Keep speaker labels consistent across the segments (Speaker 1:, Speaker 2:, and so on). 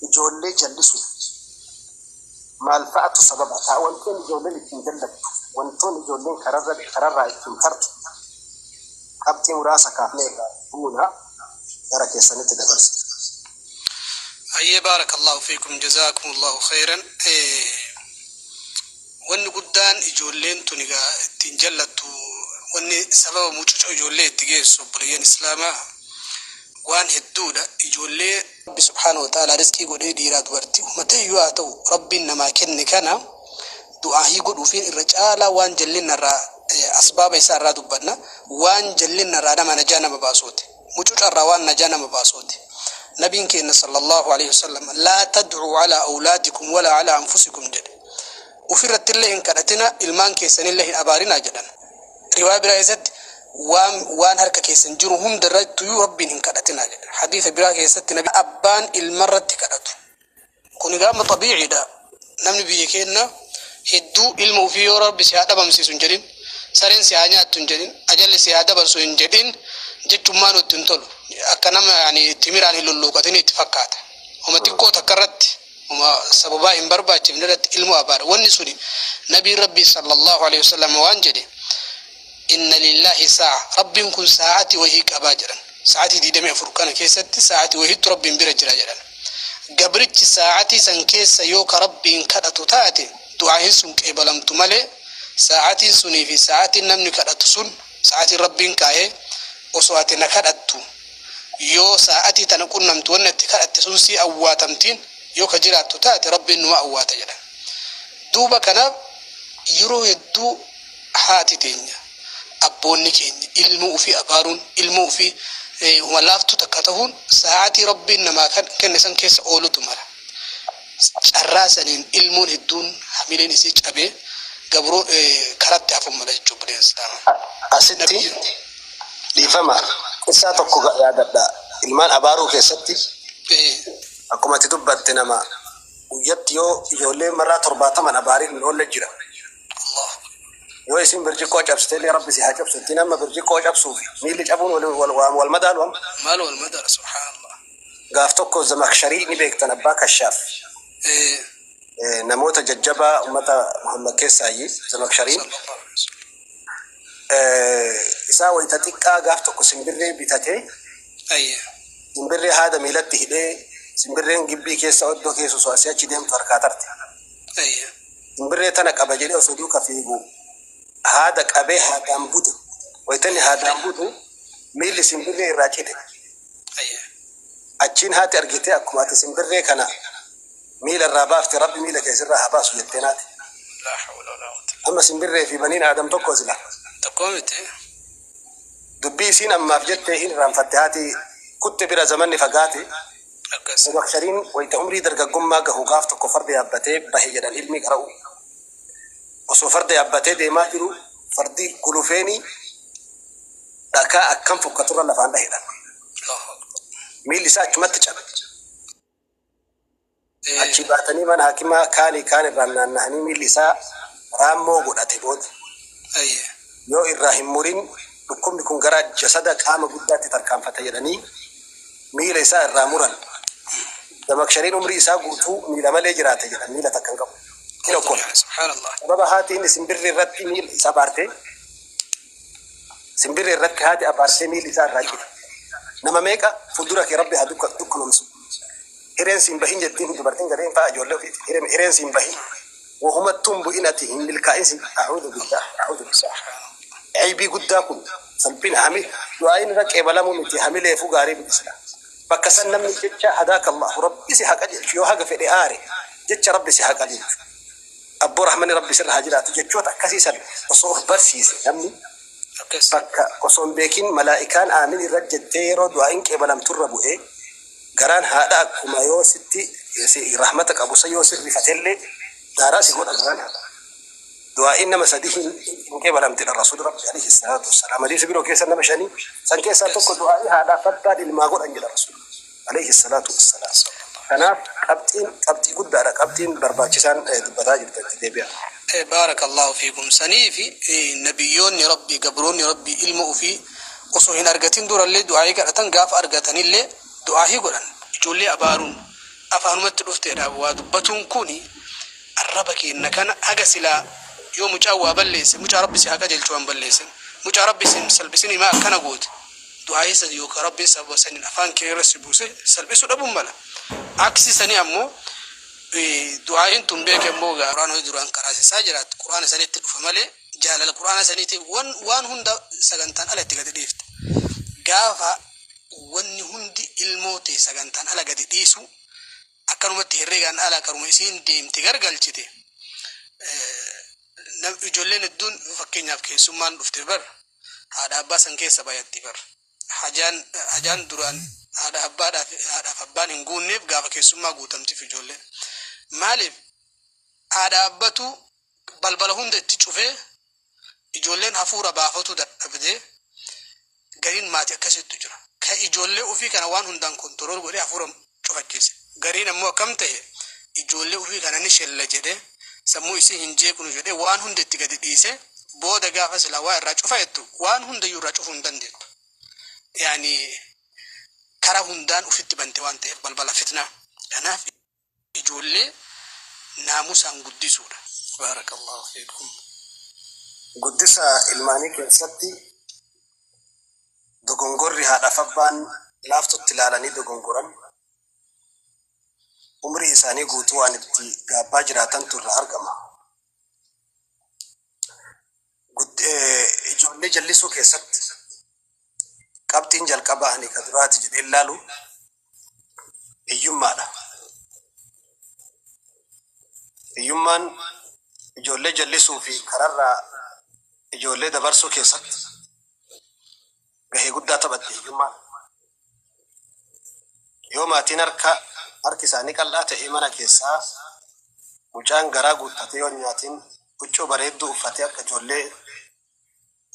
Speaker 1: Ijoollee jallisuuf maal fa'atu sababa ta'a? Wantoonni ijoolleen ittiin jallattu, wantoonni ijoolleen kararra kararraa ittiin tartu qabxii muraasa kaafnee irraa buuna gara keessanitti dabarsa.
Speaker 2: Hayyee baarakallahu fiikum jazaakumullahu khayran. Wanni guddaan ijoolleen tun egaa ittiin jallattu wanni sababa mucucoo ijoollee itti geessu obboleeyyan Islaamaa waan hedduudha ijoollee rabbi subhaanahu wa ta'aalaa rizqii godhee dhiiraa dubartii uummateeyyuu haa ta'u rabbiin namaa kenne kana du'aahii godhuufiin irra caalaa waan jallinnarraa asbaaba isaa irraa dubbanna waan jallinnarraa nama najaa nama baasuuti mucucarraa waan najaa nama baasuuti nabiin keenna sallallahu alaihi wasallam laa tad'uu calaa awlaadikum walaa calaa anfusikum jedhe ufirrattillee hin kadhatina ilmaan keessanillee hin abaarinaa jedhan Riwaaya biraa keessatti waan waan harka keessan jiru hunda irrattuyyuu Rabbiin hin kadhatinaa jedha. Hadiisa biraa keessatti nabi abbaan ilma irratti kadhatu. Kuni gaama xabiiciidha. Namni biyya keenna hedduu ilma ofii yoo Rabbi si haa dhabamsiisu hin jedhin, sareen si haa nyaattu hin jedhin, ajalli si haa dabarsu hin jedhin jechummaa nutti hin tolu. Akka nama yani timiraan hin lulluuqatin itti fakkaata. Homa xiqqoo takka irratti Uma sababaa hin barbaachifne irratti ilmoo abaara. Wanni suni Nabiin Rabbii sallallahu aleyhi wa sallam waan jedhe, Inna lillaahi saa'a, Rabbiin kun saa'ati wahii qaba jedhan. Sa'atii 24 kana keessatti sa'ati wahiitu Rabbiin bira jira jedhan. Gabrichi sa'atii san keessa yoo ka Rabbiin kadhatu taate, du'aahin sun qeebalamtu malee, sa'atiin sunii fi sa'atiin namni kadhatu sun, sa'atiin Rabbiin kaa'e, osoo ati na kadhattu, yoo saa'atii tana qunnamtu wanni atti kadhatte sun sii awwaatamtiin yoo ka jiraattu taate Rabbiin numa awwaata jedhan. Duuba kanaaf yeroo hedduu haati teenya, abboonni keenya ilmoo ufii abaaruun, ilmoo ufii huma laaftuu takka tahuun saa'atii Rabbiin namaa kenne san keessa oolutu mala. Carraa saniin ilmoon hedduun hamileen isii cabee gabroo karatti hafuun mala jechuun bineensa. Asitti
Speaker 1: dhiifama qissaa tokko yaadadha. Ilmaan abaaruu keessatti akkuma ati dubbatte nama guyyatti yoo ijoollee marraa torbaataman abaariin hin oolle jira. Yoo isin birciqqoo cabsite illee rabbi si haa cabsu jettee nama birciqqoo cabsuuf miilli cabuun wal madaalu amma. Maal wal madaala
Speaker 2: subhaanallah. Gaaf tokko
Speaker 1: Zamakshari ni beektan abbaa Kashaaf. Namoota jajjabaa ummata Muhammad keessaayyi Zamakshariin. Isaa wayita xiqqaa gaaf tokko simbirree bitatee simbirree haada miilatti hidhee simbirreen gibbii keessa oddoo keessa osoo asii achi deemtu harkaa tarte. Simbirree tana qaba jedhee osoo duuka fiigu haada qabee haadaan bute. Wayita inni haadaan butu miilli simbirree irraa cite. Achiin haati argitee akkuma ati simbirree kana miila irraa baafte rabbi miila kee sirraa haa baasu jettee naati. Amma simbirree fi baniin aadam tokko sila. Tokko miti. Dubbii isiin ammaaf jettee hin irraanfatte haati kutte bira zamanni fagaate. Akkas. Abubakariin wayita umrii dargaggummaa gahu gaaf tokko farda yaabbatee bahe jedhan ilmi qara'u. Osoo farda yaabbatee deemaa jiru fardi gulufeeni Dhakaa akkam fokkaturra lafaan dhahe dha. Miilli isaa achumatti cabe. Achii baatanii mana hakimaa kaanii kaan irraan naannahanii miilli isaa raammoo godhate booda. Yoo irraa hin murin dhukkubni kun gara jasada qaama guddaatti tarkaanfata jedhanii miila isaa irraa muran. Damakshariin umrii isaa guutuu miila malee jiraate jedhan miila takka hin qabu. Tokko. Sababa haatiin isin birri irratti miila isaa baarte. Simbirri irratti haati abaarsee miilli isaa irraa cite. Nama meeqa fuuldura kee rabbi haa dukka- dukkanomsu. Hireen siin bahin jettiin dubartiin gariin fa'a ijoollee ofiiti. Hireen, hireen siin bahin. Wahumattuu hin bu'in ati hin milkaa'in siin. A'uudu billah, a'uudu billah. Aybii guddaa kun salphina hami du'aa'iin irra qeebalamuu miti hamileefuu gaarii miti sila. Bakka san namni jecha hadaaka Allahu rabbi si haa qajeelchu yoo haga fedhe aare jecha rabbi si haa qajeelchu. Abboo rahmanni rabbi sirra haa jiraatu jechoota akkasii san osoo of barsiise namni bakka osoo hin beekin malaa'ikaan aamin irra jettee yeroo du'aa'iin qeebalamtu irra bu'ee garaan haadha akkuma yoo sitti rahmata qabu san yoo sin rifatellee daaraa si godha garaan haadha du'aa'iin nama sadii hin hin qeebalamtedha rasuuli rabbi alayhi salaatu wassalaam hadiisa biroo keessa nama shanii san keessaa tokko du'aa'ii haadhaaf abbaan ilmaa godhan jedha rasuuli Aleeyhi salaatu wassalaam. Kanaaf qabxiin qabxii guddaadha qabxiin barbaachisaan dubbataa jirta itti deebi'aa. Baarakallaahu
Speaker 2: fiikum saniifi nabiyyoonni rabbii gabroonni rabbii ilma ufii osoo hin argatin durallee du'aa'ii kadhatan gaafa argatanillee du'aa'ii godhan ijoollee abaaruun afaanumatti dhufteedha waa dubbatuun kuni arraba keenna kana haga silaa yoo mucaan waa balleesse mucaa rabbi si haa qajeelchu waan balleessin mucaa rabbi sin salphisinii maa akkana goote du'aa'ii san yookaa Rabbiin sababa saniin afaan kee irra si buuse salphisuu dhabuun mala. Aksii sanii ammoo du'aa'iin tun beeke ammoo gaa Qur'aana hojii duraan qaraasisaa jiraat Qur'aana sanitti dhufa malee jaalala Qur'aana saniitiif wan waan hunda sagantaan ala itti gadi dhiifta. Gaafa wanni hundi ilmoo tee sagantaan ala gadi dhiisu akkanumatti herreegaan ala karuma isiin deemte gargalchite nam ijoolleen hedduun fakkeenyaaf keessummaan dhufte bar haadha abbaa san keessa bayatti bar hajaan hajaan duraan haadha abbaadhaaf haadhaaf abbaan hin guunneef gaafa keessummaa guutamtiif ijoolleen maaliif haadha abbatu balbala hunda itti cufee ijoolleen hafuura baafatu dadhabdee gariin maati akkasittu jira ka ijoollee ofii kana waan hundaan kontorool godhee hafuura cufachiise. Gariin ammoo akkam ta'e ijoollee ufii kana ni shella jedhee sammuu isii hin jeeqnu jedhee waan hunda itti gadi dhiisee booda gaafa silaa waa irraa cufa jettu waan hundayyuu irraa cufuu hin dandeettu. Yaani karaa hundaan ufitti bante waan ta'eef balbala fitnaa. Kanaaf ijoollee naamusaan guddisuudha. Baarakallaahu fiikum.
Speaker 1: Guddisa ilmaanii keessatti. Dogongorri haadhaaf abbaan laaftutti ilaalanii dogongoran umrii isaanii guutuu waan itti gaabbaa jiraatantu irraa argama. Ijoollee jallisuu keessatti qabxiin jalqabaa ani ka duraati jedheen laalu hiyyummaadha. Hiyyummaan ijoollee jallisuu fi kararraa ijoollee dabarsuu keessatti gahee guddaa taphatti hiyyummaan. Yoo maatiin harka harki isaanii qal'aa ta'ee mana keessaa mucaan garaa guuttatee yoo hin nyaatiin huccuu bareedduu uffatee akka ijoollee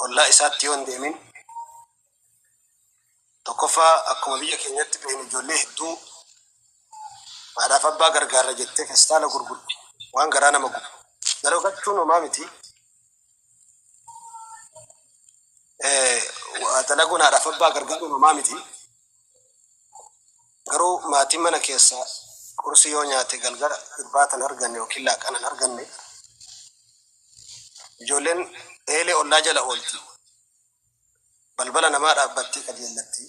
Speaker 1: ollaa isaatti yoo hin deemin tokkoffaa akkuma biyya keenyatti beeknu ijoollee hedduu haadhaaf abbaa gargaarra jettee festaala gurgurti waan garaa nama gubu. Dalogachuun homaa miti. Eh, waa dalaguun haadhaaf abbaa gargaaruun homaa miti. Garuu maatiin mana keessaa qursii yoo nyaate galgala irbaatan arganne yookiin laaqana hin arganne Ijoolleen eelee ollaa jala oolti. Balbala namaa dhaabbattee qajeellatti.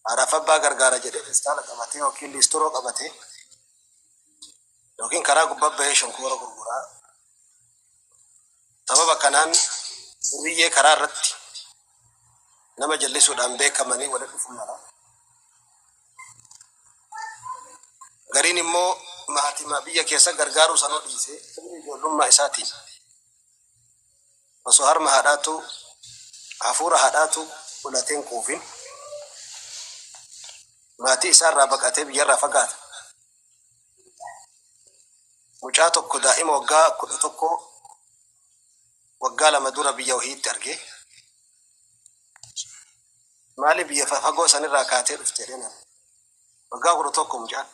Speaker 1: Haadhaaf abbaa gargaara jedhee feestaala qabatee yookiin liistiroo qabatee yookiin karaa gubbaa bahee shonkoora gurguraa. Sababa kanaan duriyyee karaa irratti nama jallisuudhaan beekamanii walitti dhufuu mala. Gariin immoo maatiima biyya keessa gargaaruu sanuu dhiisee sirni ijoollummaa isaatiin osoo harma haadhaatu hafuura haadhaatu fudhateen quufin maatii isaarraa baqatee biyyarraa fagaata. Mucaa tokko daa'ima waggaa kudha tokkoo waggaa lama dura biyya wahiitti argee Maali biyya fagoo sanirraa kaatee dhufte jedheen ani. Waggaa kudha tokko mucaan.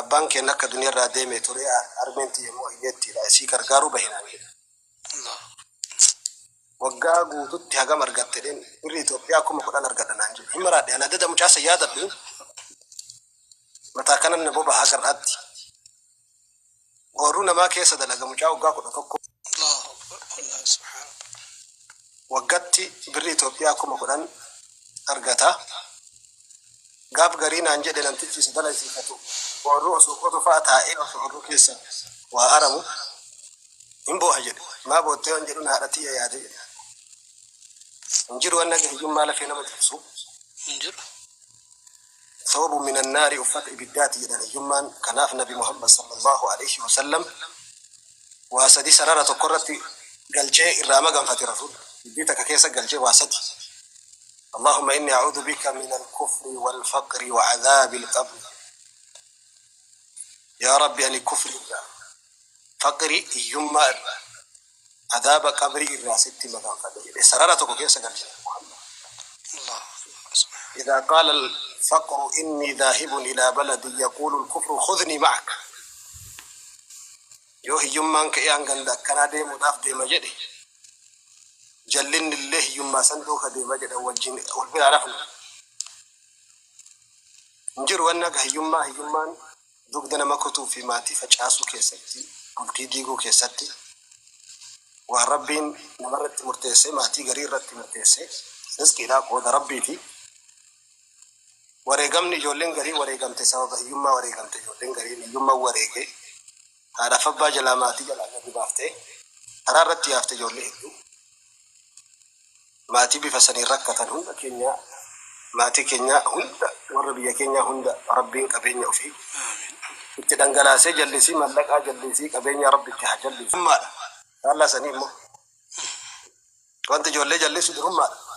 Speaker 1: Abbaan keenya akka duniyarraa deeme ture harmeen tiyya immoo hiyyeettiidha isii gargaaruu bahe naan jedhe. Waggaa guututti hagam argatte jedheen birri Itoophiyaa kuma kudhan argadha naan jedhe. Hin maraadhe ana dada mucaa san yaadadhu mataa kanan na boba'a hagar'aatti. Oorruu namaa keessa dalaga mucaa waggaa 11. Allahu Akbar Allah Subhaanallah. Waggatti birrii Itoophiyaa 10,000 argata. Gaaf garii naan jedhe namtichi isa dalaysiifatu oorruu osoo qotu fa'a taa'ee osoo oorruu keessa waa aramu hin booha jedhe. Maa boottee waan jedhuun haadha tiyya yaade jedhe. Hin jiru waan naga hiyyummaa lafee nama cabsu. Hin jiru. Thawbun minan naari uffata ibiddaati jedhan hiyyummaan kanaaf nabi Muhammad sallallaahu aleeyhi wasallam waa sadi sarara tokko irratti galchee irraa maganfate rasuulli dubbii takka keessa galchee waa sadi Allaahumma inni a'uudu bika minal kufri wal faqri wa adhaabil qabri yaa rabbi ani kufri irraa faqri hiyyummaa irraa Adaaba qabrii irraa sitti maganfadhe jedhe sarara tokko keessa galche Muhammad. Idhaa qaala al-faqru innii dhaahibun ilaa baladii yaquulu al-kufru khudhnii ma'ak. Yoo hiyyummaan ka'ee an ganda akkanaa deemuudhaaf deema jedhe jallinni illee hiyyummaa san duuka deema jedhan wajjin wal biraa rafna. Hin jiru wanni akka hiyyummaa hiyyummaan Dugda nama kutuu fi maatii facaasuu keessatti, bultii diiguu keessatti, waan Rabbiin nama irratti murteessee maatii garii irratti murteesse, rizqiidhaa qooda Rabbiiti. Wareegamni ijoolleen garii wareegamte sababa hiyyummaa wareegamte ijoolleen gariin hiyyumman wareege, haadhaaf abbaa jalaa maatii jalaa gadi baafte, karaa irratti yaafte ijoollee hedduu. Maatii bifa saniin rakkatan hunda keenya maatii keenya hunda warra biyya keenya hunda rabbiin qabeenya ofii itti dhangalaasee jallisii mallaqaa jallisii qabeenya rabbi itti haa jallisu. Durummaadha. Faallaa sanii immoo wanti ijoollee jallisu durummaadha.